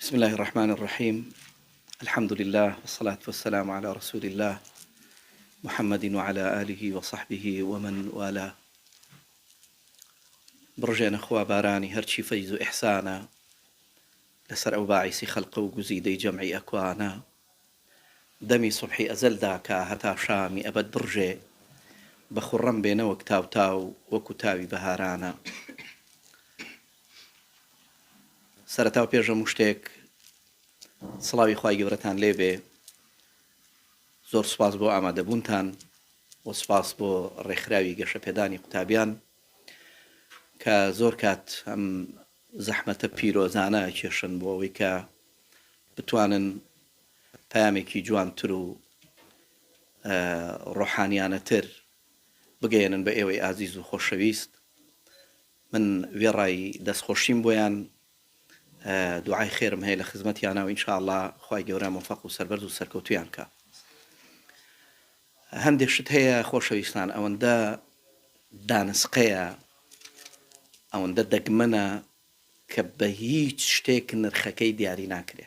بسم اللە الرحمن الرحیم الحمد للە والصلاة والسلام علی رسول اللە محمد وعلى آله وصحبه ومن والاه بڕژێنە خوا بارانی هەرچی فەیز و ئیحسانە لەسەر ئەو باعیسی خەلقە و گوزیدەی جەمعی ئەکوانە دەمی سبحی ئەزەل داکا هەتا شامی ئەبەد بڕژێ بە خوڕەم بێ نەوەک تاوتاو وەکو تاوی بەهارانە سەرەتا و پێش هەموو شتێک سڵاوی خوای گەورەتان لێبێ زۆر سپاس بۆ ئامادەبوونتان و سپاس بۆ ڕێکخراوی گەشەپێدانی قوتابیان کە زۆر کات ئەم زەحمەتە پیرۆزانە کێشن بۆ ئەوەی کە بتوانن پامێکی جوانتر و ڕۆحانیانەتر بگەێنن بە ئێوەی ئازیز و خۆشەویست من وێڕای دەستخۆشیم بۆیان دوعای خێرم هەیە لە خزمەتیانە و ان شاء اللە خوای گەورە مۆفەق و سەربەرز و سەرکەوتوویان کا. هەندێک شت هەیە خۆشەویستان ئەوەندە دانسقەیە ئەوەندە دەگمەنە کە بە هیچ شتێک نرخەکەی دیاری ناکرێ.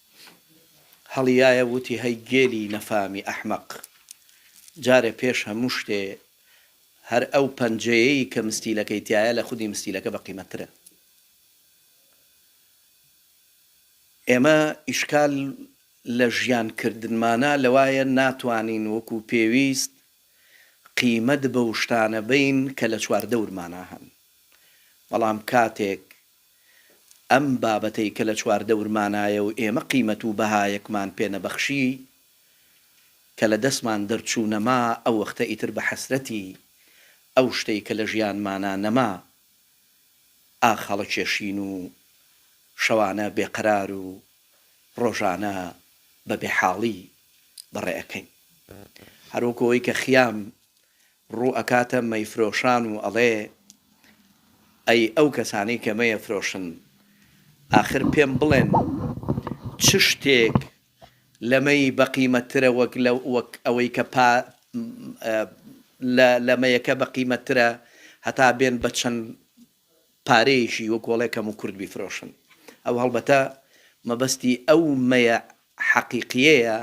هەڵیایە ووتی هەی گێلی نەفامی ئەحمەق جارێ پێش هەموو شتێ هەر ئەو پەنجەیەیی کە مستیلەکەی تیایە لە خودی مستیلەکە بە قیمەتترە ئێمە ئیشکال لە ژیان کردنمانە لەوایە ناتوانین وەکوو پێویست قیمەت بەو شتانە بەین کە لە چواردەورمانا هەن بەڵام کاتێک ئەم بابەتەی کە لە چواردەورمانایە و ئێمە قیمەت و بەهایەکمان پێ نەبەخشی، کە لە دەستمان دەرچوو نەما، ئەو وەختە ئیتر بە حەسرەتی ئەو شتەی کە لە ژیانمانا نەما، ئاخ هەڵەکێشین و شەوانە بێ قەرار و ڕۆژانە بە بێحاڵی بەڕێ ئەکەین. هەر وەکوو ئەوەی کە خیام ڕوو ئەکاتە مەیفرۆشان و ئەڵێ ئەی ئەو کەسانەی کە مەیەفرۆشن ئاخر پێم بڵێن چ شتێک لە مەی بە قیمەت ترە وەک لە وەک ئەوەی کە پا لە لە مەیەکە بە قیمەت ترە هەتا بێن بە چەند پارەیەکی وەک وەڵێ کەم و کورت بیفرۆشن ئەوە هەڵبەتە مەبەستی ئەو مەیە حەقیقیەیە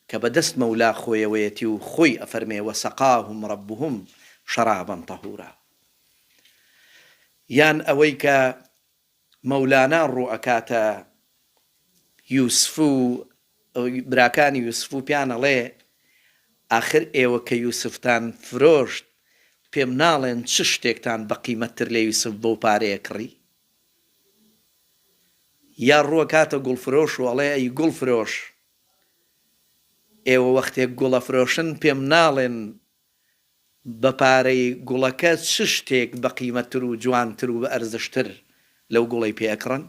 کە بە دەست مەولا خۆیەوەیەتی و خۆی ئەفەرمێ وسقاهم ربهم شرابا طهورا یان ئەوەی کە مەولانا ڕوو ئەکاتە یوسف و براکانی یوسف و پێیان ئەڵێ، ئاخر ئێوە کە یوسفتان فرۆشت، پێم ناڵێن چ شتێکتان بە قیمەتتر لە یوسف بەو پارەیە کڕی؟ یا ڕوو ئەکاتە گوڵفرۆش و ئەڵێ، ئەی گوڵفرۆش، ئێوە وەختێک گوڵ ئەفرۆشن، پێم ناڵێن بە پارەی گوڵەکە چ شتێک بە قیمەتتر و جوانتر و بە ئەرزشتر لەو گوڵەی پێ ئەکڕن؟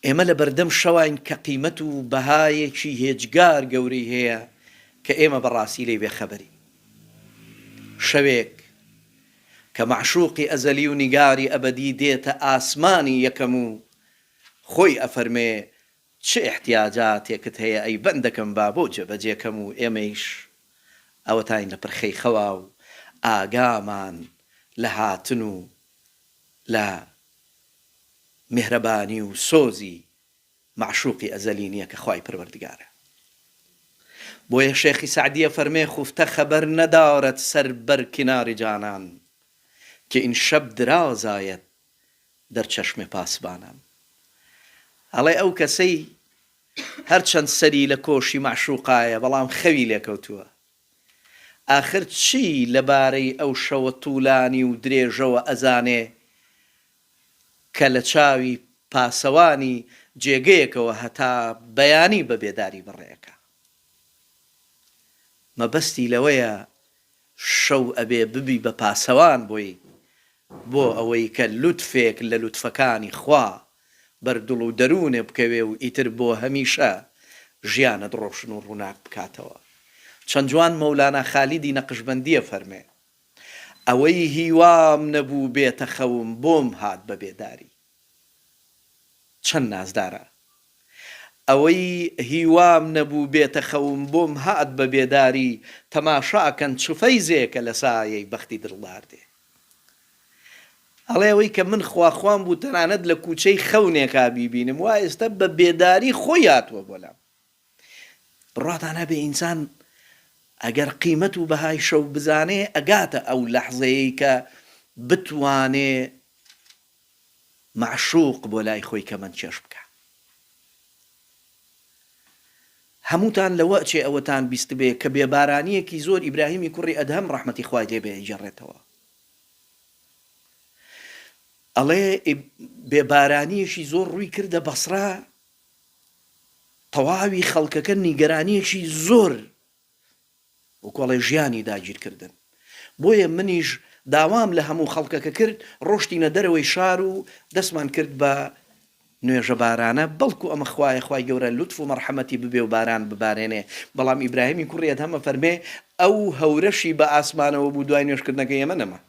ئێمە لە بەردەم شەواین کە قیمەت و بەهایەکی هێجگار گەورەی هەیە کە ئێمە بە ڕاستی لێی بێ خەبەرین. شەوێک کە مەعشوقی ئەزەلی و نیگاری ئەبەدی دێتە ئاسمانی یەکەم و خۆی ئەفەرمێ چ ئیحتیاجاتێکت هەیە ئەی بەندەکەم با بۆ جێبەجێکەم و ئێمەیش ئەوەتاین لە پرخەی خەوا و ئاگامان لە هاتن و لە میهرەبانی و سۆزی مەعشوقی ئەزەلی نیە کە خوای پەروەردگارە بۆیە شێخی سەعدی ئەفەرمێ خوفتە خەبەر ندارد سەر بەر کنار جانان که این شب دراز آید در چشم پاسبانان ئەڵێ ئەو کەسەی هەرچەند سەری لە کۆشی مەعشوقایە بەڵام خەوی لێکەوتووە ئاخر چی لە بارەی ئەو شەوە طولانی و درێژەوە ئەزانێ کە لە چاوی پاسەوانی جێگەیەکەوە هەتا بەیانی بە بێداری بەڕێ ئەکا مەبەستی لەوەیە شەو ئەبێ ببی بە پاسەوان بۆی بۆ ئەوەی کە لوتفێک لە لوتفەکانی خوا بەر دڵ و دەروونێ بکەوێ و ئیتر بۆ هەمیشە ژیانت ڕۆشن و ڕووناک بکاتەوە چەند جوان مەولانا خالیدی نەقشبەندی ئەفەرمێ ئەوەی هیوام نەبوو بێتە خەوم بۆم هات بە بێداری. چەند نازدارە ئەوەی هیوام نەبوو بێتە خەوم بۆم هات بە بێداری تەماشا کەن چ فەیزێکە لە سایەی بەختی دڵدار دێ ئەڵێ ئەوەی کە من خواخوام بوو تەنانەت لە کوچەی خەونێکا بیبینم وا ئێستە بە بێداری خۆی هاتووە بۆ لام بڕاتان هەبێ ئینسان ئەگەر قیمەت و بەهای شەو بزانێ ئەگاتە ئەو لەحزەیەی کە بتوانێ مەعشوق بۆ لای خۆی کەمەند کێش بکا هەمووتان لەوە ئەچێ ئەوەتان بیستبێ کە بێبارانیەکی زۆر ئیبراهیمی کوڕی ئەدهەم ڕەحمەتی خوای لێ بێ ئەیگێڕێتەوە ئەڵێ بێبارانیەکی زۆر ڕووی کردە بەسڕە تەواوی خەڵکەکە نیگەرانیەکی زۆر و کۆڵێ ژیانی داگیر کردن بۆیە منیش داوام لە هەموو خەڵکەکە کرد ڕۆشتینە دەرەوەی شار و دەستمان کرد بە نوێژە بارانە بەڵکو ئەمە خوایە خوای گەورە لوتف و مەڕحەمەتی ببێ و باران ببارێنێ بەڵام ئیبراهیمی کوڕی ئەدهەم ئەفەرمێ ئەو هەورەشی بە ئاسمانەوە بوو دوای نوێژ کردنەکەی ئێمە نەما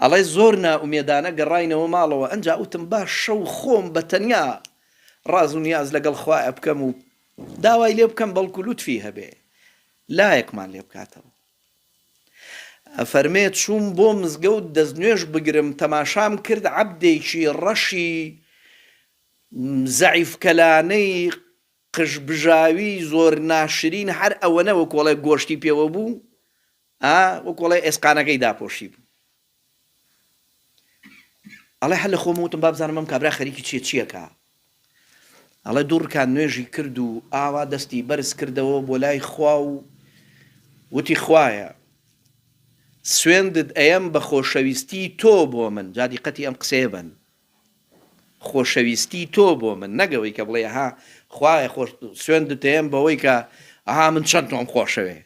ئەڵێ زۆر نائومێدانە گەڕاینەوە ماڵەوە ئەنجا وتم باش شەو خۆم بە تەنیا ڕاز و نیاز لەگەڵ خوایە بکەم و داوای لێ بکەم بەڵکو لوتفی هەبێ لایەکمان لێ بکاتەوە. ئەفەرمێ چووم بۆ مزگەوت دەستنوێژ بگرم تەماشام کرد عەبدێکی ڕەشی زەعیف کەلانەی قژبژاوی زۆر ناشرین هەر ئەوەنە وەکۆڵێ گۆشتی پێوە بوو ئا وەکو ئەڵێ ئێسقانەکەی داپۆشیبوو ئەڵێ هەر لە خۆم وتم با بزانم ئەم کابرا خەریکی چیە چیەکە ئەڵێ دوو ڕکان نوێژی کرد و ئاوا دەستی بەرز کردەوە بۆ لای خوا و وتی خوایە سوێندت ئەیەم بە خۆشەویستی تۆ بۆ من جادی قەتی ئەم قسەیە بن خۆشەویستی تۆ بۆ من نەگەوەی کە بڵێ ها خوایە خۆش سوێندت ئەیەم بەوەی کە ئەها من چەند تۆم خۆشەوێ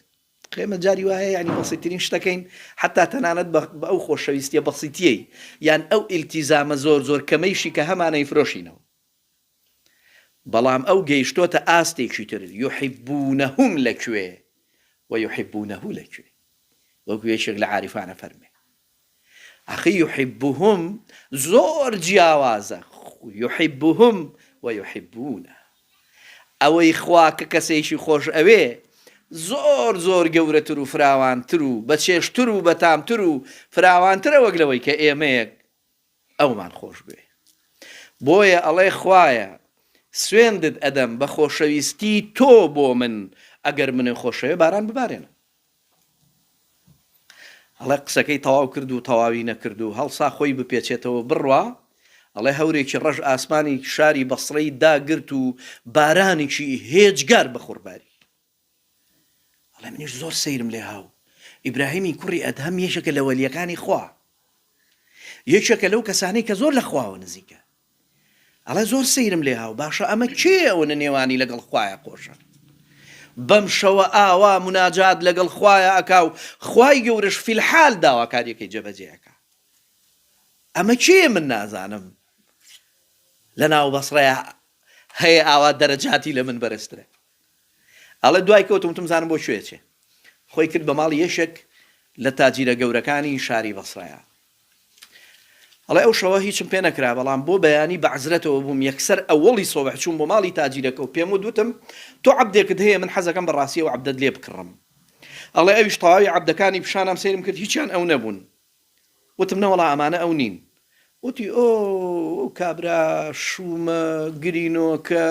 ئێمە جاری وا هەیە یانی بەسیتترین شتەکەین، حەتتا تەنانەت بە ئەو خۆشەویستییە بەسیتییەی یان ئەو ئیلتیزامە زۆر زۆر کەمەیشی کە هەمانە ئەیفرۆشینەوە. بەڵام ئەو گەیشتۆتە ئاستێکی تر، یحبونهم لە کوێ و یحبونه لە کوێ؟ وەکو یەکێک لە عارفان ئەفەرموێ. ئەخی یحبهم زۆر جیاوازە یحبهم ویحبونە ئەوەی خوا کە کەسێکی خۆش ئەوێ زۆر زۆر گەورەتر و فراوانتر و بەچێژتر و بەتامتر و فراوانترە وەک لەوەی کە ئێمەیەک ئەومان خۆش بوێ بۆیە ئەڵێ خوایە سوێندت ئەدەم بە خۆشەویستی تۆ بۆ من ئەگەر منێ خۆشەوێ باران ببارێنە ئەڵێ قسەکەی تەواو کرد و تەواوی نەکرد و هەڵسا خۆی بپێچێتەوە بڕوا ئەڵێ هەورێکی ڕەش ئاسمانی شاری بەسڕەی داگرت و بارانێکی هێجگار بەخوڕباری ئەڵێ منیش زۆر سەیرم لێ هاو ئیبراهیمی کوڕی ئەدهەم یەکێکە لە وەلیەکانی خوا یەکێکە لەو کەسانی کە زۆر لە خواوە نزیکە ئەڵێ زۆر سەیرم لێ هاو باشە ئەمە کێ ئەوە نە نێوانی لەگەڵ خوایە خۆشە بەم شەوە ئاوا مناجات لەگەڵ خوایە ئەکا و خوای گەورش فیلحال داواکاریەکەی جێبەجێەکە ئەمە کێ من نازانم لە ناو بەسڕەیە هەیە ئاوا دەرەجاتی لە من بەرزترە ئەڵێ دوای کەوتم وتم زانم بۆ کوێ ئەچێ خۆی کرد بە ماڵی یەکێک لە تاجیرە گەورەکانی شاری بەسڕەیا ئەڵێ ئەو شەوە هیچم پێ نەکرا بەڵام بۆ بەیانی بە عەزرەتەوە بووم یەکسەر ئەوەڵی سۆبح چووم بۆ ماڵی تاجیرەکە و پێم وت وتم تۆ عەبدێکت هەیە من حەزەکەم بە ڕاستیەوە عەبدەت لێ بکڕم ئەڵێ ئەویش تەواوی عەبدەکانی پیشانام سەیرم کرد هیچیان ئەو نەبوون وتم نەوەڵا ئەمانە ئەو نین. وتی ئۆ ئەو کابرا شوومە گرینۆکە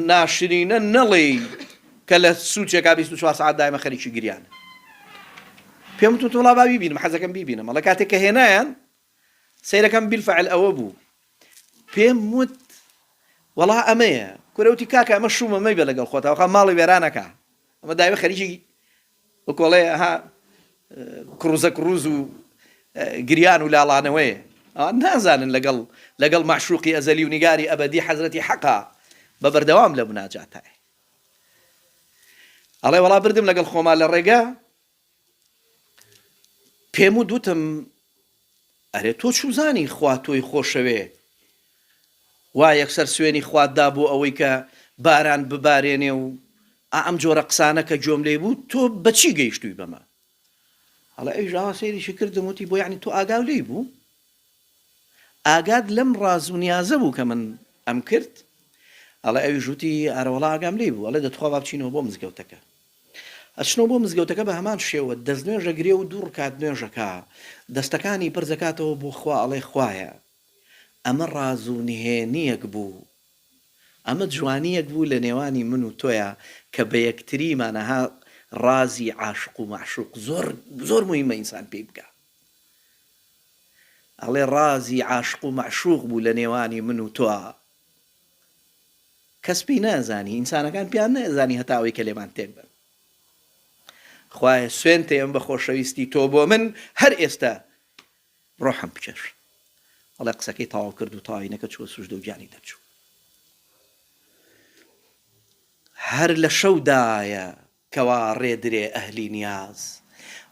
ناشرینە نەڵێی کە لە سوچێکا بیست و چوار سەعات دایمە خەریکی گریانە. پێم وتم وەڵا با بیبینم حەزەکەم بیبینم ئەڵێ کاتێک کە هێنایان سەیرەکەم بیلفعل ئەوە بوو پێم وت وەڵا ئەمەیە کورە وتی کاکە ئەمە شوومە مەیبە لەگەڵ خۆتەوە خە ماڵی وێرانەکە ئەمە دایمە خەریکی وەکو ئەڵێ ئەها کڕوزە کڕوز و گریان و لاڵانەوەیە ئەوان نازانن لەگەڵ لەگەڵ مەعشوقی ئەزەلی و نیگاری ئەبەدی حەزرەتی حەقا بە بەردەوام لە مناجاتای ئەڵێ وەڵا بردم لەگەڵ خۆما لە ڕێگە پێم و دوتم ئەرێ تۆ چوزانی خوا تۆی خۆشەوێ وا یەکسەر سوێنی خوات دا بۆ ئەوەی کە باران ببارێنێ و ئا ئەم جۆرە قسانە کە گوێم لێی بوو تۆ بە چی گەیشتووی بەمە هەڵە ئەویش ئاوا سەیریشی کردم وتی بۆ یەعنی تۆ ئاگاو لێی بوو ئاگات لەم ڕاز و نیازە بوو کە من ئەم کرد ئەڵێ ئەویش وتی ئارەوەڵا ئاگام لێی بوو ئەڵێ دەتخوا با بچینەوە بۆ مزگەوتەکە ئەچنەوە بۆ مزگەوتەکە بە هەمان شێوە دەست نوێژ ئەگرێ و دوو ڕکات نوێژ ئەکا دەستەکانی پرز ئەکاتەوە بۆ خوا ئەڵێ خوایە ئەمە ڕاز و نهێنیەک بوو ئەمە جوانیەک بوو لە نێوانی من و تۆیا کە بە یەکتریمان ئەها ڕازی عاشق و مەعشوق زۆر زۆر موهیمە ئینسان پێی بگا ئەڵێ ڕازی عاشق و مەعشوق بوو لە نێوانی من و تۆا. کەس پێی نازانی ئینسانەکان پێیان نازانی هەتا ئەوەی کە لێمان تێک بن خوایە سوێنتێ ئەم بە خۆشەویستی تۆ بۆ من هەر ئێستا ڕۆحم بچێش ئەڵێ قسەکەی تەواو کرد و تاینەکە چوە سوش دەوجانی دەرچوو هەر لە شەودایە کەوا ڕێدرێ ئەهلی نیاز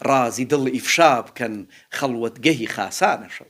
ڕازی دڵ ئیفشا بکەن خەڵوەتگەهی خاسانە شەو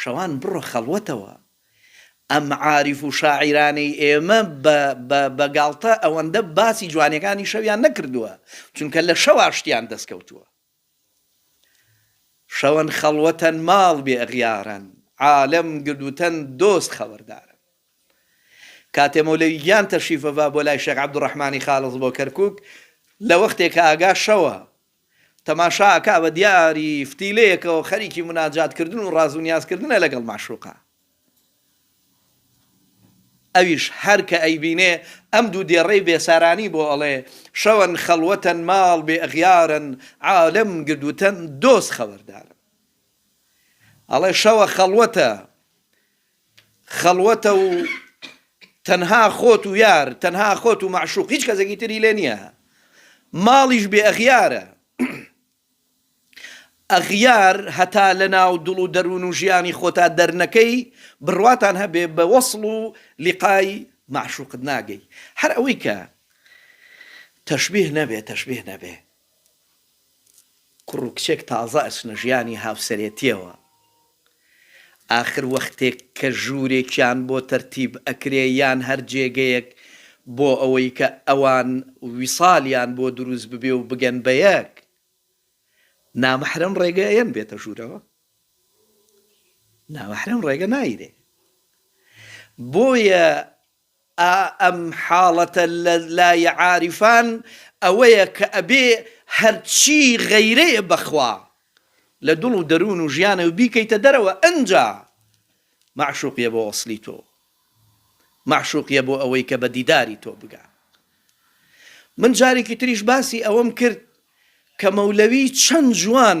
شەوان بڕۆ خەڵوەتەوە. ئەم عارف و شاعیرانەی ئێمە بە بە بە گاڵتە ئەوەندە باسی جوانیەکانی شەویان نەکردووە چونکە لە شەوا شتیان دەست کەوتووە. شەوان خەڵوەتەن ماڵ بێ ئەغیارەن عالەم گردوتەن دۆست خەوەردارەن. کاتێ مەولەوی گیان تەشریفەڤا بۆ لای شێخ عەبدوڕەحمانی خالص بۆ کەرکوک لە وەختێ کە ئاگا شەوە تەماشا ئەکا بە دیاری فتیلەیەکەوە خەریکی مناجات کردن و ڕاز و نیاز کردنە لەگەڵ مەعشوقە ئەویش هەر کە ئەیبینێ ئەم دوو دێڕەی بێسارانی بۆ ئەڵێ شەوەن خەڵوەتەن ماڵ بێ ئەغیارن عالەم گرد وتەن دۆست خەوەردارن ئەڵێ شەوە خەڵوەتە خەڵوەتە و تەنها خۆت و یار، تەنها خۆت و مەعشوق، هیچ کەسێکی تری لێ نییە. ماڵیش بێ ئەغیارە. ئەغیار هەتا لەناو دڵ و دەروون و ژیانی خۆتا دەرنەکەی، بڕواتان هەبێ بە وەسڵ و لیقای مەعشوقت ناگەی. هەر ئەوەی کە تەشبیه نەبێ، تەشبیه نەبێ. کوڕ و کچێک تازە ئەچنە ژیانی هاوسەرێتیەوە ئاخر وەختێک کە ژوورێکیان بۆ تەرتیب ئەکرێ یان هەر جێگەیەک بۆ ئەوەی کە ئەوان ویسالیان بۆ دروست ببێ و بگەن بە یەک نامەحرەم ڕێگە ئەیەن بێتە ژوورەوە؟ نامەحرەم ڕێگە نایرێ بۆیە ئا ئەم حاڵەتە لە لای عارفان ئەوەیە کە ئەبێ هەرچی غەیرەیە بە خوا لە دڵ و دەروون و ژیانەوە بیکەیتە دەرەوە ئەنجا مەعشوق یە بۆ وەسلی تۆ مەعشوق یە بۆ ئەوەی کە بە دیداری تۆ بگا من جارێکی تریش باسی ئەوەم کرد کە مەولەوی چەند جوان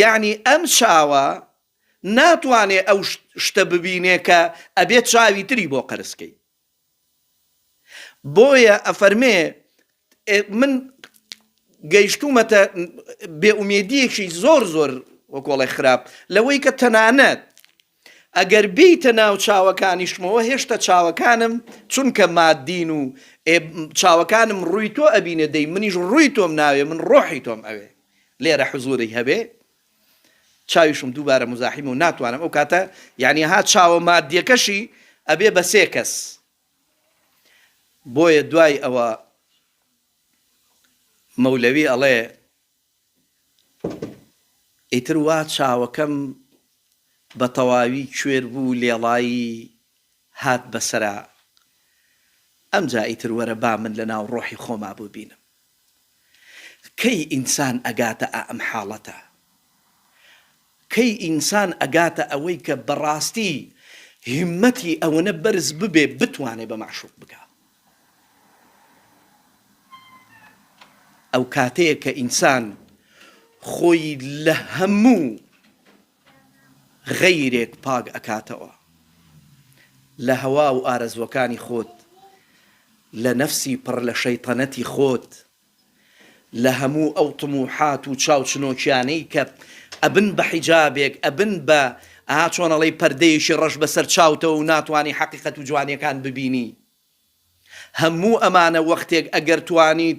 یەعنی ئەم چاوە ناتوانێ ئەو شتە ببینێ کە ئەبێ چاوی تری بۆ قەرز کەی بۆیە ئەفەرمێ من گەیشتومەتە بێئومێدیەکی زۆر زۆر وەکۆڵێ خراپ لەوەی کە تەنانەت ئەگەر بێیتە ناو چاوەکانیشمەوە هێشتە چاوەکانم چونکە مادین و ئێ چاوەکانم ڕووی تۆ ئەبینێ دەی منیش ڕووی تۆم ناوێ من ڕۆحی تۆم ئەوێ لێرە حزوری هەبێ چاویشم دووبارە مزاحیم و ناتوانم ئەو کاتە یعنی ها چاوە مادیەکەشی ئەبێ بە سێ کەس بۆیە دوای ئەوە مەولەوی ئەڵێ ئیتر وا چاوەکەم بە تەواوی کوێر بوو لێڵایی هات بە سەرا ئەمجا ئیتر وەرە با من لە ناو ڕۆحی خۆما بوبینم کەی ئینسان ئەگاتە ئائەم حاڵەتە کەی ئینسان ئەگاتە ئەوەی کە بەڕاستی هیمەتی ئەوەنە بەرز ببێ بتوانێ بە مەعشوق بگا؟ ئەو کاتەیە کە ئینسان خۆی لە هەموو غەیرێک پاک ئەکاتەوە، لە هەوا و ئارەزووەکانی خۆت، لە نەفسی پڕ لە شەیتەنەتی خۆت، لە هەموو ئەو طموحات و چاوچنۆکیانەی کە ئەبن بە حیجابێک ئەبن بە ئەها چۆن ئەڵێی پەردەیەکی ڕەش بەسەر چاوتەوە و ناتوانی حەقیقەت و جوانیەکان ببینی هەموو ئەمانە وەختێک ئەگەر توانیت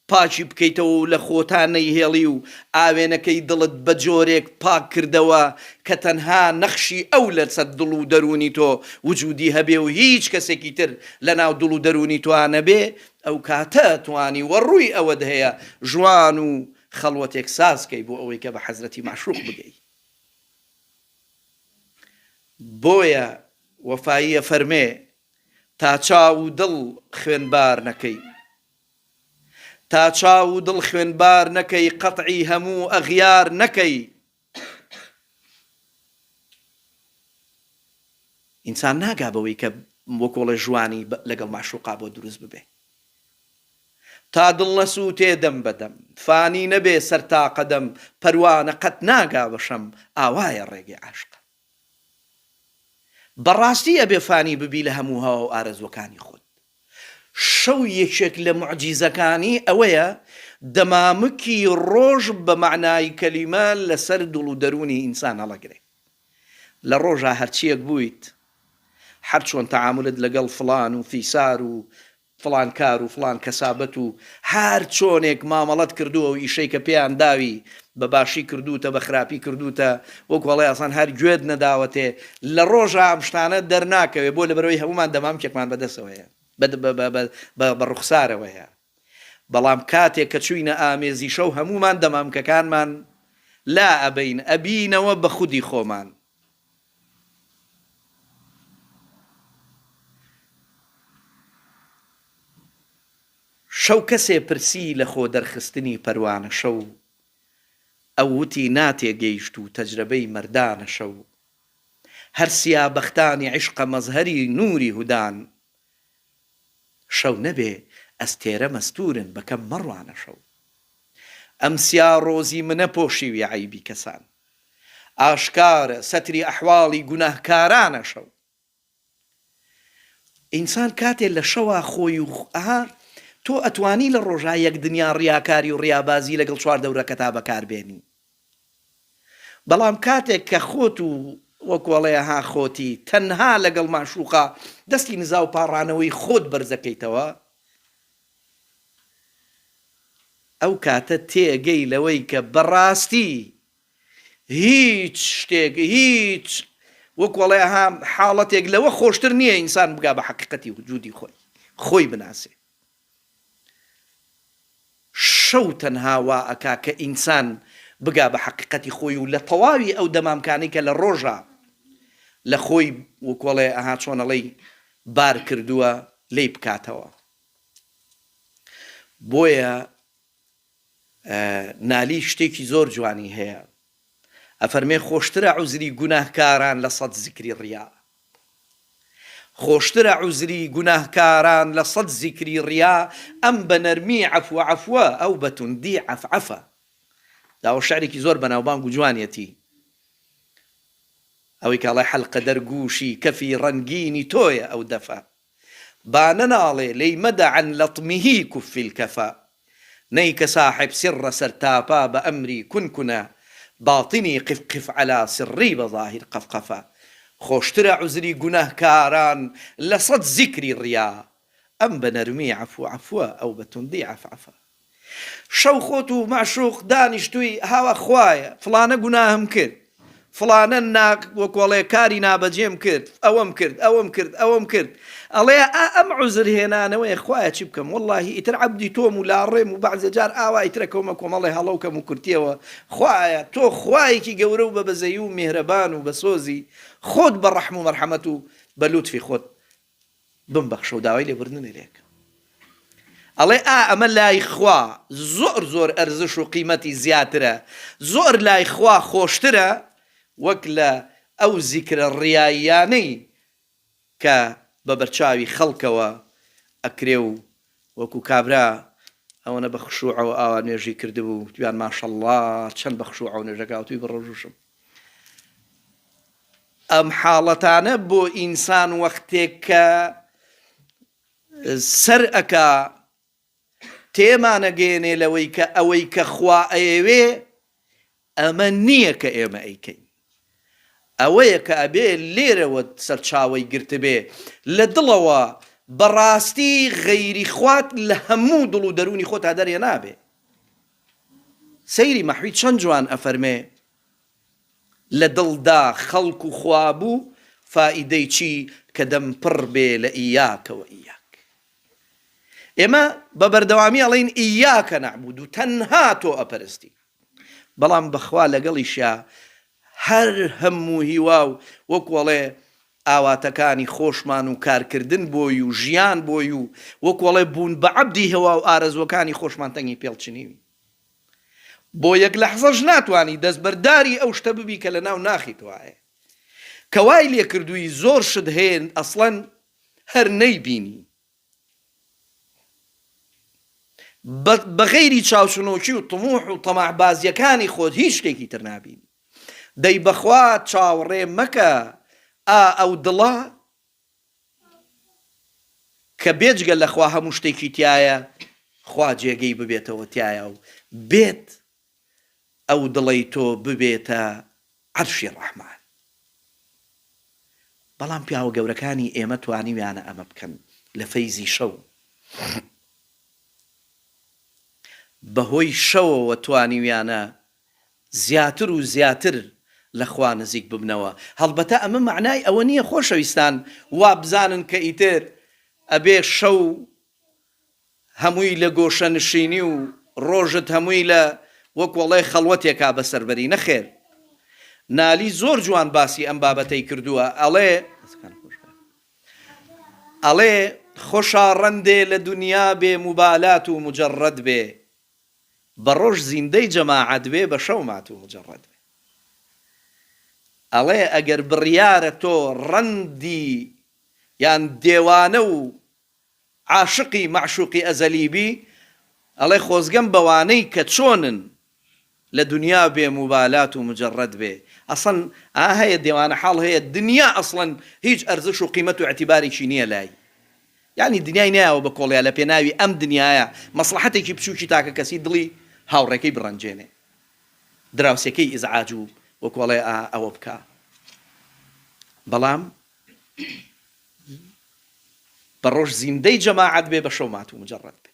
پاکی بکەیتەوە و لە خۆتا نەیهێڵی و ئاوێنەکەی دڵت بە جۆرێک پاک کردەوە کە تەنها نەخشی ئەو لە سەر دڵ و دەرونی تۆ وجودی هەبێ و هیچ کەسێکی تر لە ناو دڵ و دەرونی تۆا نەبێ ئەوکاتە توانی وە ڕووی ئەوەت هەیە ژوان و خەڵوەتێک ساز کەی بۆ ئەوەی کە بە حەزرەتی مەعشوق بگەی بۆیە وەفایی ئەفەرمێ تا چاو و دڵ خوێن بار نەکەی تا چاو و دڵ خوێن بار نەکەی قەتعی هەموو ئەغیار نەکەی ئینسان ناگا بەوەی کە وەکۆڵێ ژوانی لەگەڵ مەعشوقا بۆ دروست ببێ تا دڵ نەسووتێ دەم بە دەم فانی نەبێ سەر تا قەدەم پەروانە قەت ناگا بە شەم ئاوایە ڕێگەی عاشقان. بەڕاستی ئەبێ فانی ببی لە هەموو هەوا و ئارەزووەکانی خۆت شەو یەکێک لە موعجیزەکانی ئەوەیە دەمامکی ڕۆژ بە مەعنای کەلیمە لەسەر دڵ و دەروونی ئینسان هەڵەگرێ لە ڕۆژا هەرچییەک بوویت هەرچۆن تەعامولت لەگەڵ فڵان و فیسار و فڵان کار و فڵان کەسابەت و هەر چۆنێک مامەڵەت کردووە و ئیشەی کە پێیان داوی بە باشی کردووتە بە خراپی کردووتە وەکو ئەڵێ ئەسڵەن هەر گوێت نەداوەتێ لە ڕۆژا ئەم شتانە دەرناکەوێ بۆ لەبەرئەوەی هەموومان دەمامکێکمان بە دەستەوەیە بە ڕوخسارەوەیە بەڵام کاتێک کە چووینە ئامێزی شەو هەموومان دەمامکەکانمان لا ئەبەین ئەبینەوە بە خودی خۆمان شەو کەسێ پرسی لە خۆ دەرخستنی پەروانە شەو ئەو وتی ناتێ گەیشت و تەجرەبەی مەردانە شەو هەر سیا بەختانی عیشقە مەزهەری نوری هودان شەو نەبێ ئەستێرە مەستورن بەکەم مەڕوانە شەو ئەم سیا ڕۆزی منە پۆشیوی عەیبی کەسان ئاشکارە سەتری ئەحواڵی گوناهکارانە شەو ئینسان کاتێ لە شەوا خۆی و ئەها تۆ ئەتوانی لە ڕۆژا یەک دنیا ڕیاکاری و ڕیابازی لەگەڵ چوار دەورەکەتا بەکاربێنی بەڵام کاتێک کە خۆت و وەکۆڵەیە ها خۆتی تەنها لەگەڵ ماشوقا دەستی نزا و پاڕانەوەی خۆت بەرزەکەیتەوە ئەو کاتە تێگەی لەوەی کە بەڕاستی هیچ شتێک هیچ وەکو ئەڵێ ئەها حاڵەتێک لەوە خۆشتر نییە ئینسان بگا بە حەقیقەتی وجودی خۆی خۆی بناسێ شەو تەنها وا ئەکا کە ئینسان بگا بە حەقیقەتی خۆی و لە تەواوی ئەو دەمامکانی کە لە ڕۆژە لە خۆی وکۆڵێ ئەها چۆنەڵی بار کردووە لی بکاتەوە بۆیە نالی شتێکی زۆر جوانی هەیە ئەفەرمێ خۆشترە عوزری گوناهکاران لە سەد زیکری ڕیا خۆشترە عوزری گوناهکاران لە سەد زیکری ڕیا ئەم بە نەرمی عەفو عەفوە ئەو بە توندی عەف عەفە داوە شعرێکی زۆر بەناوبانگ و جوانیەتی ئەوەی کاڵای حەلقەدەر گووشی کەفی ڕەنگینی تۆیە ئەو دەفە بانە ناڵێ لێی مەدە عەن لەطمه کف الکفا نەی کە ساحب سڕە سەرتاپا بە ئەمری کون کنا باطنی قف قف علی سڕی بە ظاهر قفقفا خۆشترە عوزری گوناه کاران لە سەد زیکری ڕیا ئەم بە نەرمی عەفو عەفوە ئەو بە توندی عەفعەفا. شەو خۆت و مەعشوق دانیشتوی هاوا خوایە فڵانە گوناهم کرد فڵانە نا وەکو ئەڵێ کاری نابەجێم کرد ئەوەم کرد ئەوەم کرد ئەوەم کرد ئەڵێ ئا ئەم عوزر هێنانەوەیە خوایە چی بکەم وەڵاهی ئیتر عەبدی تۆم و لاڕێم و بەعزێ جار ئاوا ئیترە کەومە کۆمەڵێ هەڵە و کەم و کورتیەوە خوایە تۆ خوایەکی گەورە و بە بەزەیی و میهرەبان و بەسۆزی خۆت بە ڕەحم و مەرحەمەت و بە لوتفی خۆت بمبەخشەو داوای لێبوردنم لێ کە. ئەڵێ ئا ئەمە لای خوا زۆر زۆر ئەرزش و قیمەتی زیاترە، زۆر لای خوا خۆشترە وەک لە ئەو زیکرە ڕیاییانەی کە بە بەرچاوی خەڵکەوە ئەکرێ و وەکو کابرا ئەوەنە بە خشوعەوە ئاوا نوێژی کردبوو گویان ماشەڵڵا چەند بە خشوعەوە نوێژەکەوتوی بڕۆژوشم ئەم حاڵەتانە بۆ ئینسان وەختێک کە سەر ئەک تێمانەگەێنێ لەوەی کە ئەوەی کە خوا ئەیەوێ ئەمە نییە کە ئێمە ئەیکەین. ئەوەیە کە ئەبێ لێرەوە سەرچاوەی گرتبێ. لە دڵەوە بە ڕاستی غەیری خوات لە هەموو دڵ و دەروونی خۆتا دەرهێنابێ. سەیری مەحوی چەند جوان ئەفەرمێ، لە دڵدا خەڵک و خوا بوو، فائیدەی چی کە دەم پڕ بێ لە ئیاکە و ئیاک. ئێمە بە بەردەوامی ئەڵێین ئیاکە نەعبودو، تەنها تۆ ئەپەرستین. بەڵام بەخوا لەگەڵیشا هەر هەم و هیوا و وەکو ئەڵێ ئاواتەکانی خۆشمان و کارکردن بۆی و ژیان بۆی و وەکو ئەڵێ بوون بە عەبدی هوا و ئارەزوەکانی خۆشمان تەنگی پێڵ چنیوین بۆ یەک لەحزەش ناتوانی دەستبەرداری ئەو شتە ببی کە لە ناو ناخی توایە کە وای لێکردووی زۆر شت هەیە ئەسڵەن هەر نەیبینی. بە غەیری چاوچنۆکی و طموح و طمع بازیەکانی خۆت هیچ شتێکی تر نابینی دەی بەخوا چاوەڕێ مەکە ئا ئەو دڵە کە بێجگە لە خوا هەموو شتێکی تایە خوا جێگەی ببێتەوە تایە و بێت ئەو دڵەی تۆ ببێتە عەرشی ڕەحمان بەڵام پیاوە گەورەکانی ئێمە توانیویانە ئەمە بکەن لە فەیزی شەو بەهۆی شەوەوە توانیویانە زیاتر و زیاتر لە خوا نزیک ببنەوە هەڵبەتە ئەمە مەعنای ئەوە نییە خۆشەویستان وابزانن کە ئیتر ئەبێ شەو هەمووی لە گۆشە نشینی و ڕۆژت هەمووی لە وەک وەڵێ خەڵوەتێکا بەسەر بەری نەخێر نالی زۆر جوان باسی ئەم بابەتەی کردووە ئەڵێ ئەڵێ خۆشا ڕەندێ لە دونیا بێ موبالات و موجەڕەد بێ بە ڕۆژ زیندەی جەماعەت بێ بە شەو مات و موجەڕەد بێ ئەڵێ ئەگەر بڕیارە تۆ ڕەندی یان دێوانە و عاشقی مەعشوقی ئەزەلی بی ئەڵێ خۆزگەم بەوانەی کە چۆنن لە دنیا بێ موبالات و مجەڕەد بێ ئەسڵەن ئا هەیە دێوانە حاڵ هەیە دنیا ئەسڵەن هیچ ئەرزش و قیمەت و ئیعتیبارێکی نیە لای یانی دنیای نایەوە بە کۆڵیا لە پێناوی ئەم دنیایە مەسڵەحەتێکی بچوکی تاکە کەسی دڵی هاوڕێکەی بڕەنجێنێ دراوسێکەی ئیزعاج و وەکو ئەڵێ ئا ئەوە بکا بەڵام بە ڕۆژ زیندەی جەماعەت بێ بە شەو ماتوو مجەڕەد بێ.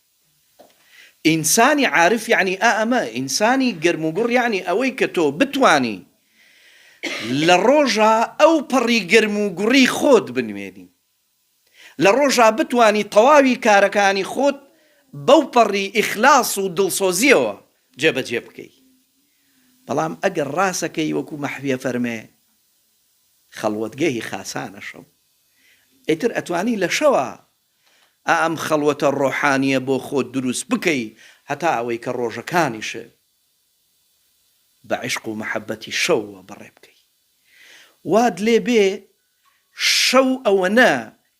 ئینسانی عارف یەعنی ئا ئەمە، ئینسانی گەرم و گوڕ یەعنی ئەوەی کە تۆ بتوانی لە ڕۆژا ئەو پەڕی گەرم و گوڕی خۆت بنوێنی. لە ڕۆژا بتوانی تەواوی کارەکانی خۆت بەو پەڕی ئیخلاس و دڵسۆزییەوە جێبەجێ بکەی. بەڵام ئەگەر ڕاست ئەکەی وەکوو مەحوی ئەفەرمێ. خەڵوەتگەهی خاسانە شەو ئیتر ئەتوانی لە شەوا ئەم خەڵوەتە ڕۆحانیە بۆ خۆت دروست بکەی هەتا ئەوەی کە ڕۆژەکانیشت بە عیشق و مەحەبەتی شەوەوە بەڕێ بکەی وات لێ بێ شەو ئەوەنە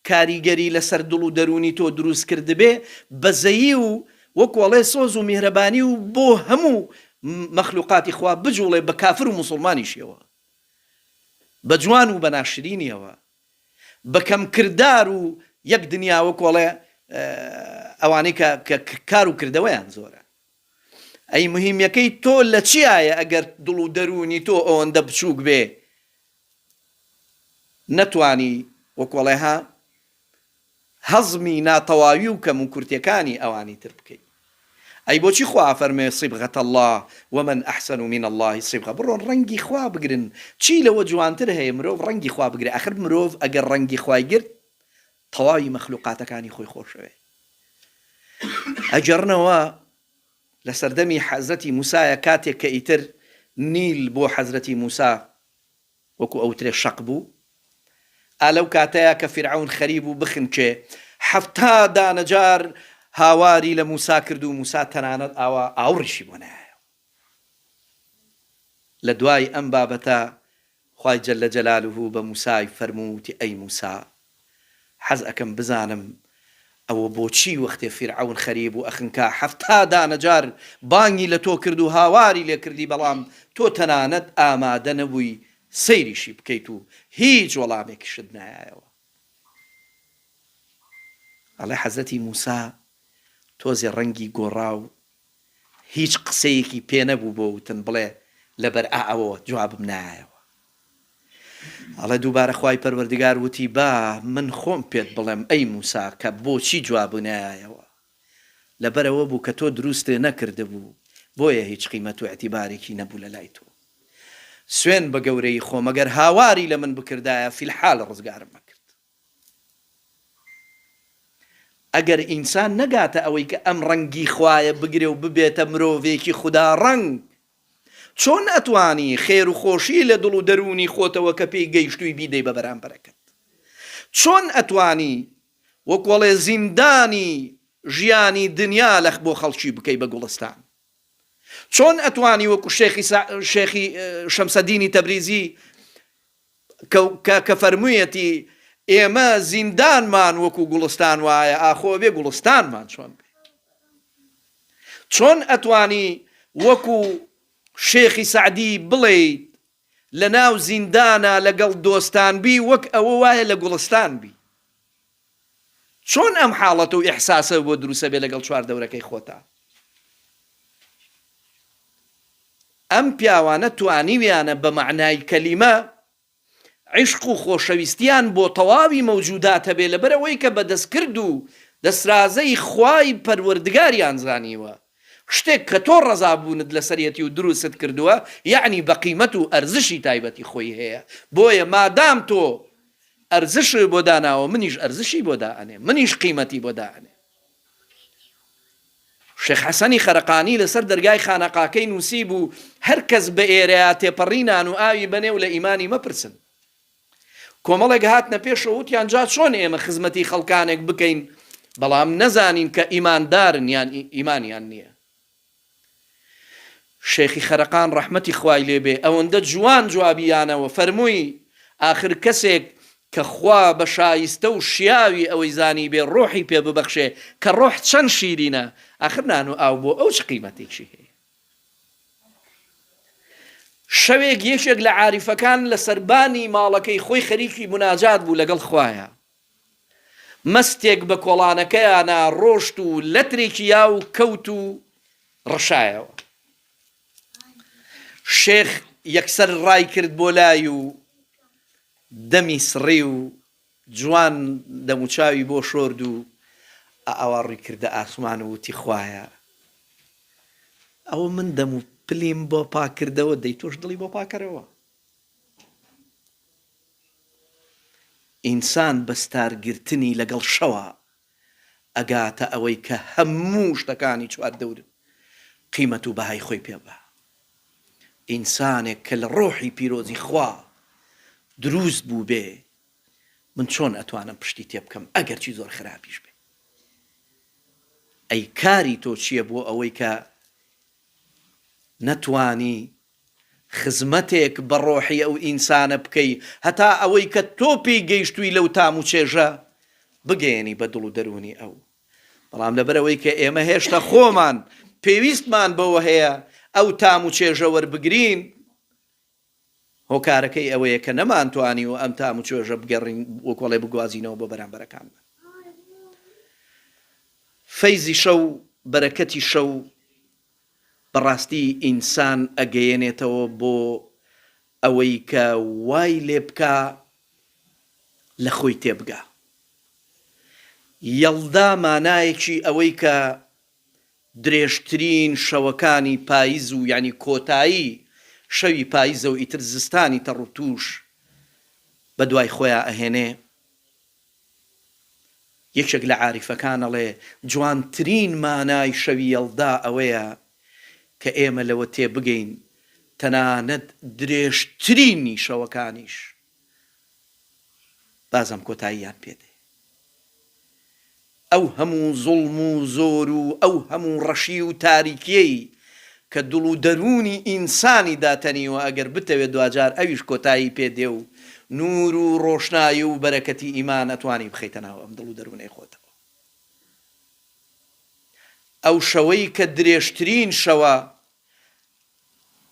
کاریگەری لەسەر دڵ و دەرونی تۆ دروست کردبێ بەزەیی و وەکو ئەڵێ سۆز و میهرەبانی و بۆ هەموو مەخلوقاتی خوا بجوڵێ بە کافر و موسڵمانیشیەوە بە جوان و بە ناشرینیەوە بە کەم کردار و یەک دنیا وەکو ئەڵێ ئەوانەی کە کە کار و کردەوەیان زۆرە ئەی مهمیەکەی تۆ لە چیایە ئەگەر دڵ و دەروونی تۆ ئەوەندە بچووک بێ نەتوانی وەکۆڵێها هەزمی ناتەواوی و کەم و کورتیەکانی ئەوانی تر بکەی ئەی بۆچی خوا ئەفەرموێ صبغە اللە ومن احسن من اللە صبغە بڕۆن ڕەنگی خوا بگرن چی لەوە جوانتر هەیە مرۆڤ ڕەنگی خوا بگرێ ئەخر مرۆڤ ئەگەر ڕەنگی خوای گرت تەواوی مەخلوقاتەکانی خۆی خۆشەوێ ئەگەڕنەوە لە سەردەمی حەزرەتی موسایە کاتێک کە ئیتر نیل بۆ حەزرەتی موسا وەکو ئەوترێ شەق بوو ئا لەو کاتەیا کە فیرعەون خەریب و بخنکێ حەفتا دانە جار هاواری لە موسا کرد و موسا تەنانەت ئاوا ئاوڕیشی بۆ نەیایەوە لە دوای ئەم بابەتە خوای جل جلالە بە موسای فەرموو وتی ئەی موسا حەز ئەکەم بزانم ئەوە بۆچی وەختێ فیرعەون خەریب و ئەخنکا حەفتا دانە جار بانگی لە تۆ کرد و هاواری لێ کردی بەڵام تۆ تەنانەت ئامادە نەبووی سەیریشی بکەیت و هیچ وەڵامێکیشت نایایەوە ئەڵێ حەزرەتی موسا تۆزێ ڕەنگی گۆڕا و هیچ قسەیەکی پێ نەبوو بۆ وتن بڵێ لەبەر ئا ئەوەوە جوابم نایەوە ئەڵێ دووبارە خوای پەروەردگار وتی با من خۆم پێت بڵێم ئەی موسا کە بۆچی جوابو نەیایەوە لەبەرئەوە بوو کە تۆ دروستێ نەکردبوو بۆیە هیچ قیمەت و ئیتیبارێکی نەبوو لە لای تۆ سوێن بە گەورەیی خۆم ئەگەر هاواری لە من بکردایە فی الحال ڕزگارم ئەکرد. ئەگەر ئینسان نەگاتە ئەوەی کە ئەم ڕەنگی خوایە بگرێ و ببێتە مرۆڤێکی خودا ڕەنگ، چۆن ئەتوانی خێر و خۆشی لە دڵ و دەروونی خۆتەوە کە پێی گەیشتووی بیدەی بە بەرامبەرەکەت؟ چۆن ئەتوانی وەک وەڵێ زیندانی ژیانی دنیا لەخ بۆ خەڵکی بکەی بە گوڵستان؟ چۆن ئەتوانی وەکو شێخی شێخی شەمسەدینی تەبریزی کە کە فەرموویەتی، ئێمە زیندانمان وەکوو گوڵستان وایە، ئاخۆ ئەبێ گوڵستانمان چۆن بێ؟ چۆن ئەتوانی وەکوو شێخی سەعدی بڵێیت لە ناو زیندانا لەگەڵ دۆستان بی وەک ئەوە وایە لە گوڵستان بی؟ چۆن ئەم حاڵەت و ئیحساسە بۆ دروسەبێ لەگەڵ چواردەورەکەی خۆتا؟ ئەم پیاوانە توانیویانە بە مەعنای کەلیمە عیشق و خۆشەویستیان بۆ تەواوی مەوجودات هەبێ لەبەرئەوەی کە بە دەستکرد و دەسرازەی خوای پەروەردگاریان زانیوە شتێک کە تۆ ڕەزابوونت لەسەرێتی و دروستت کردووە یەعنی بەقیمەت و ئەرزشی تایبەتی خۆی هەیە بۆیە مادام تۆ ئەرزشی بۆ داناوە منیش ئەرزشی بۆ دا ئەنێم منیش قیمەتی بۆ دا ئەنێم. شێخ حەسەنی خەرقانی لەسەر دەرگای خانەقاکەی نووسی بوو هەر کەس بە ئێرەیا تێپەڕی نان و ئاوی بەنێ و لە ئیمانی مەپرسن. کۆمەڵێک هاتنە پێشەوە وتیان جا چۆن ئێمە خزمەتی خەڵکانێک بکەین بەڵام نەزانین کە ئیماندارن یان ئیمانیان نییە. شێخی خەرقان ڕەحمەتی خوای لێ بێ ئەوەندە جوان جوابی یانەوە فەرمووی، ئاخر کەسێک کە خوا بە شایستە و شیاوی ئەوەی زانیبێ ڕۆحی پێ ببەخشێ کە ڕۆح چەن شیرینە، ئاخر نان و ئاو بۆ ئەو چ قیمەتێکی هەیە؟ شەوێک یەکێک لە عاریفەکان لە سەربانی ماڵەکەی خۆی خەریکی موناجات بوو لەگەڵ خوایە، مەستێک بە کۆڵانەکەیانا ڕۆشت و لەترێکی یاو کەوت و ڕشایەوە. شێخ یەکسەر ڕای کرد بۆ لای و دەمی سڕی و جوان دەموچاوی بۆ شۆرد و ئاوا ڕووی کردە ئاسمان و وتی، خوایە! ئەوە من دەم و پلیم بۆ پاک کردەوە، دەی تۆش دڵی بۆ پاک کەرەوە. ئینسان بە ستار گرتنی لەگەڵ شەوە ئەگاتە ئەوەی کە هەموو شتەکانی چوار دەور قیمەت و بەهای خۆی پێ بدا. ئینسانێک کە لە ڕۆحی پیرۆزی خوا دروست بووبێ من چۆن ئەتوانم پشتی تێ بکەم ئەگەرچی زۆر خراپیش بێ؟ ئەی کاری تۆ چیە بۆ ئەوەی کە نەتوانی خزمەتێک بە ڕۆحی ئەو ئینسانە بکەی هەتا ئەوەی کە تۆ پێی گەیشتووی لەو تام و چێژە بگەیەنی بە دڵ و دەروونی ئەو بەڵام لەبەر ئەوەی کە ئێمە هێشتا خۆمان پێویستمان بەوە هەیە ئەو تام و چێژە وەربگرین هۆکارەکەی ئەوەیە کە نەمانتوانیوە ئەم تام و چێژە بگەڕین وەک وەڵێ بگوازینەوە بۆ بەرامبەرەکانمان فەیزی شەو بەرەکەتی شەو بەڕاستی ئینسان ئەگەیەنێتەوە بۆ ئەوەی کە وای لێبکا لە خۆی تێبگا. یەڵدا مانایەکی ئەوەی کە درێژترین شەوەکانی پایز و یانی کۆتایی شەوی پایزەو ئیتر زستانی تەڕوتوش بەدوای خۆیا ئەهێنێ یەکێک لە عاریفەکان ئەڵێ، جوانترین مانای شەوی یەڵدا ئەوەیە کە ئێمە لەوە تێبگەین تەنانەت درێژترینی شەوەکانیش بازم کۆتاییان پێدێ. ئەو هەموو زوڵم و زۆر و ئەو هەموو ڕەشی و تاریکیەی کە دڵ و دەروونی ئینسانی داتەنیوە ئەگەر بتەوێ دواجار ئەویش کۆتایی پێ دێ و نوور و ڕۆشنایی و بەرەکەتی ئیمان ئەتوانی بخەیتە ناو ئەم دڵ و دەروونەی خۆتەوە ئەو شەوەی کە درێژترین شەوە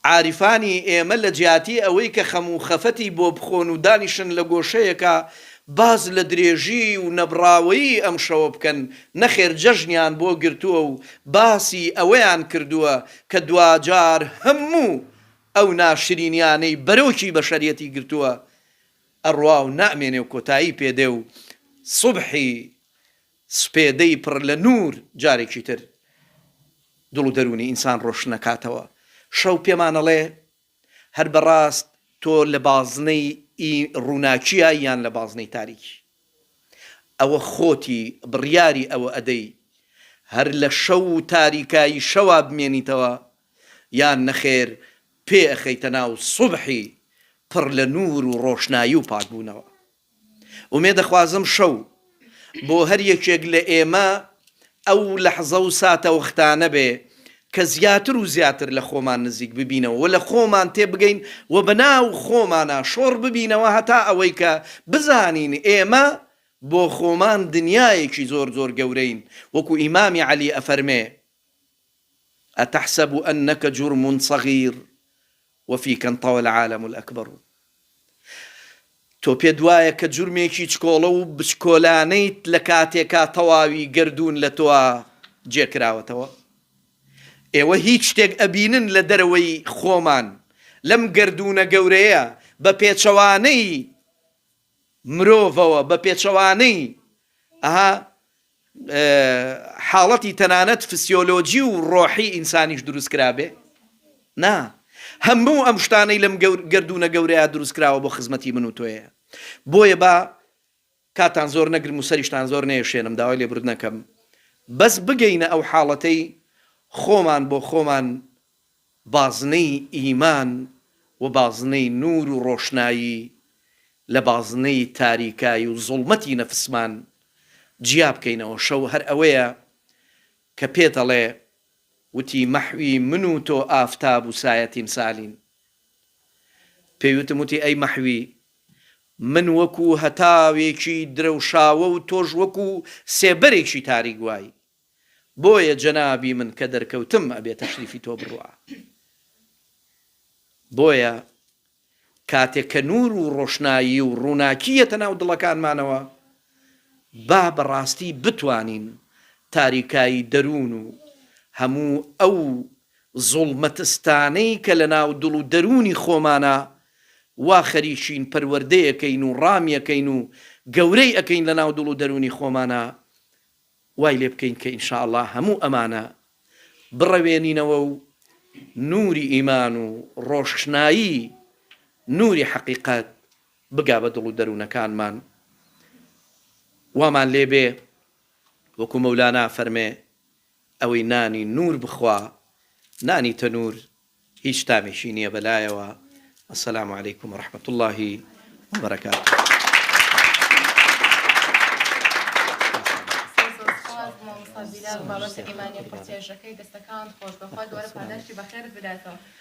عارفانی ئێمە لە جیاتی ئەوەی کە خەم و خەفەتی بۆ بخۆن و دانیشن لە گۆشەیەکا باس لە درێژی و نەبڕاوەیی ئەم شەوە بکەن، نەخێر جەژنیان بۆ گرتووە و باسی ئەوەیان کردووە کە دواجار هەموو ئەو ناشرینیانەی بەرۆکی بەشەریەتی گرتووە ئەڕوا و نامێنێ و کۆتایی پێ دێ و سوبحی سپێدەی پڕ لە نوور جارێکی تر دڵ و دەروونی ئینسان ڕۆشن ئەکاتەوە. شەو پێمان ئەڵێ، هەر بە ڕاست تۆ لە بازنەی ی ڕووناکیە یان لە بازنەی تاریکی؟ ئەوە خۆتی بڕیاری ئەوە ئەدەی هەر لە شەو و تاریکایی شەوا بمێنیتەوە یان نەخێر پێ ئەخەیتە ناو سوبحی پڕ لە نوور و ڕۆشنایی و پاکبوونەوە. ئومێد دەخوازم شەو بۆ هەر یەکێک لە ئێمە ئەو لەحزە و ساتە وەختانە بێ کە زیاتر و زیاتر لە خۆمان نزیک ببینەوە و لە خۆمان تێ بگەین و بە ناو خۆمانا شۆڕ ببینەوە هەتا ئەوەی کە بزانین ئێمە بۆ خۆمان دنیایەکی زۆر زۆر گەورەین وەکو ئیمامی عەلی ئەفەرمێ، اتحسب انک جرم صغیر وفی کەن طوە العالم الاکبر و تۆ پێت وایە کە جورمێکی چکۆڵە و بچکۆلانەیت لە کاتێکا تەواوی گەردوون لە تۆا جێ کراوەتەوە؟ ئێوە هیچ شتێک ئەبینن لە دەرەوەی خۆمان لەم گەردوونە گەورەیە بە پێچەوانەی مرۆڤەوە بە پێچەوانەی ئه حاڵەتی تەنانەت فسیۆلۆجی و ڕۆحی ئینسانیش دروست کرابێ؟ نا هەموو ئەم شتانەی لەم گەردوونە گەورەیا دروست کراوە بۆ خزمەتی من و تۆیە بۆیە با کاتان زۆر نەگرم و سەریشتان زۆر نێشێنم داوای لێبوردنەکەم بەس بگەینە ئەو حاڵەتەی خۆمان بۆ خۆمان بازنەی ئیمان و بازنەی نوور و ڕۆشنایی لە بازنەی تاریکایی و زوڵمەتی نەفسمان جیا بکەینەوە شەو هەر ئەوەیە کە پێ دەڵێ وتی مەحوی من و تۆ ئافتاب و سایە تیمسالین پێی وتم وتی ئەی مەحوی من وەکوو هەتاوێکی درەوشاوە و تۆش وەکوو سێبەرێکی تاریک وای. بۆیە جەنابی من کە دەرکەوتم ئەبێ تەشریفی تۆ بڕوا بۆیە کاتێک کە نور و ڕۆشنایی و ڕووناکی یەتە ناو دڵەکانمانەوە با بە ڕاستی بتوانین تاریکایی دەروون و هەموو ئەو زوڵمەتستانەی کە لە ناو دڵ و دەروونی خۆمانە وا خەریکین پەروەردەیەکەین و ڕامیەکەین و گەورەی ئەکەین لە ناو دڵ و دەروونی خۆمانە وای لێ بکەین کە ان شاء اللە هەموو ئەمانە بڕەوێنینەوە و نووری ئیمان و ڕۆشنایی نووری حەقیقەت بگا بە دڵ و دەروونەکانمان وامان لێ بێ وەکو مەولانا فەرمێ ئەوەی نانی نوور بخوا نانی تەنوور هیچ تامێکی نیە بەلایەوە. السلام علیکم ورحمە اللە وبرکاته. بابەتە ئیمانی و قورتێژەکەی دەستەکانت خۆش بەخوا دوبارە پاداشتی بەخێرت بداتەوە.